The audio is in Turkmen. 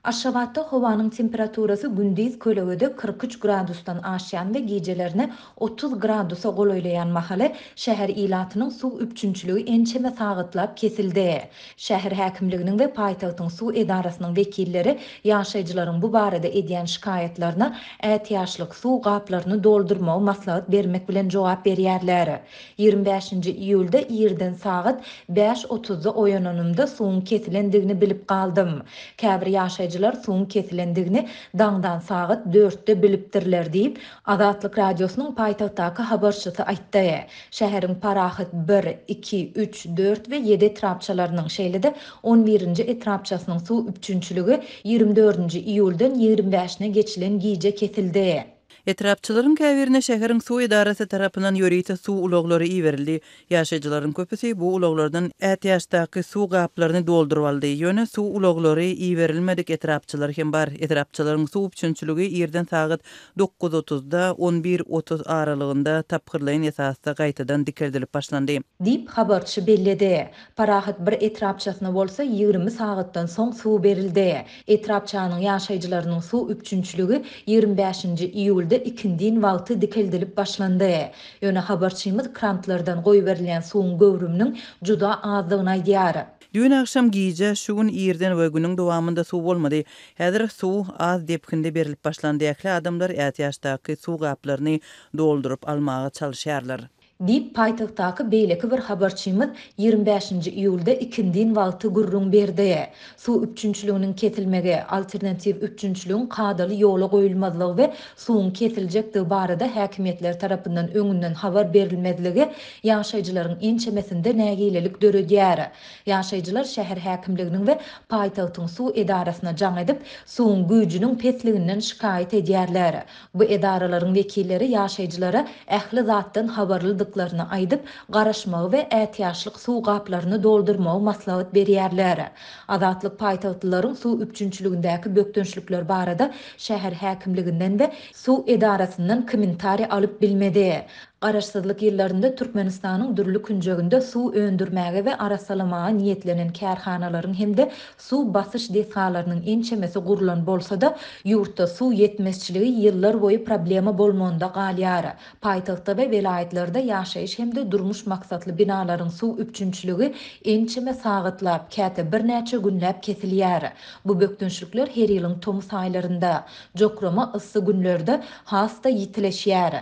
Aşgabatda howanyň temperaturasy gündiz kölegede kyrk üç gradusdan aşýan we gijelerine otuz gradusa golaýlaýan mahaly, şäher ilatynyň suw üpjünçiligi ençeme sagatlap kesildi. Şäher häkimliginiň we paýtagtyň suw edarasynyň wekilleri ýaşaýjylaryň bu barada edýän şikaýatlaryna ätiýaçlyk suw gaplaryny doldurmagy maslahat bermek bilen jogap berýärler. Ýigrimi bäşinji iýulda irden sagat bäş otuzda oýananymda suwuň kesilendigini bilip galdym. Käbir ýaşaýjylar suwuň kesilendigini daňdan sagat dörtde bilipdirler diýip, Azatlyk Radiosynyň paýtagtdaky habarçysy aýtdy. Şäheriň Parahat bir, iki, üç, dört we ýedi etrapçalarynyň, şeýle-de on birinji etrapçasynyň suw üpjünçiligi ýigrimi dördünji iýuldan ýigrimi bäşine geçilen gije kesildi. Etrapçylaryň käbirine şäheriň suw edarasy tarapyndan ýörite suw ulaglary iberildi. Ýaşaýjylaryň köpüsi bu ulaglardan ätiýaçdaky suw gaplaryny dolduryp aldy. Ýöne suw ulaglary iberilmedik etrapçylar hem bar. Etrapçylaryň suw üpjünçiligi irden sagat dokuz otuzda, on bir otuz aralygynda tapgyrlaýyn esasda gaýtadan dikeldilip başlandy. Diýip, habarçy belledi. Parahat bir etrapçasyna bolsa ýigrimi sagatdan soň suw berildi. Etrapçanyň ýaşaýjylarynyň suw üpjünçiligi ýigrimi bäşinji iýulda ikindin wagty dikeldilip başlandy. Ýöne habarçymyz krantlardan goýberilýän suwuň göwrüminiň juda azdygyny aýdýar. Düýn agşam, gije, şu gün irden we günüň dowamynda suw bolmady. Häzir suw az depginde berilip başlandy. Ähli adamlar ätiýaçdaky suw gaplaryny dolduryp almaga çalyşýarlar. Diýip, paýtagtdaky beýleki bir habarçymyz ýigrimi bäşinji iýulda ikindin wagty gürrüň berdi. Suw üpjünçiliginiň kesilmegi, alternatiw üpjünçiligiň kadaly ýola goýulmazlygy we suwuň kesiljekdigi barada häkimiýetler tarapyndan öňünden habar berilmezligi ýaşaýjylaryň ençemesinde nägilelik döredýär. Ýaşaýjylar şäher häkimliginiň we paýtagtyň suw edarasyna jaň edip, suwuň güýjüniň pesliginden şikaýat edýärler. Bu edaralaryň wekilleri ýaşaýjylara ähli zatdan habarlydyklaryny aýdyp, garaşmagy we ätiýaçlyk suw gaplaryny doldurmagy maslahat berýärler. Azatlyk paýtagtlylaryň suw üpjünçiligindäki bökdençlikler barada şäher häkimliginden we suw edarasyndan kommentariý alyp bilmedi. Garaşsyzlyk ýyllarynda Türkmenistanyň dürli künjeginde suw öndürmäge we arassalamaga niýetlenen kärhanalaryň hem-de Suw basyş desgalarynyň ençemesi gurlan bolsa-da, ýurtda suw ýetmezçiligi ýyllar boýy problema bolmagynda galýar. Paýtagtda we welaýatlarda ýaşaýyş hem-de durmuş maksatly binalaryň suw üpjünçiligi ençeme sagatlap, käte birnäçe günläp kesilýär. Bu bökdençlikler her ýylyň tomus aýlarynda, jokrama yssy günlerde has-da ýitileşýär.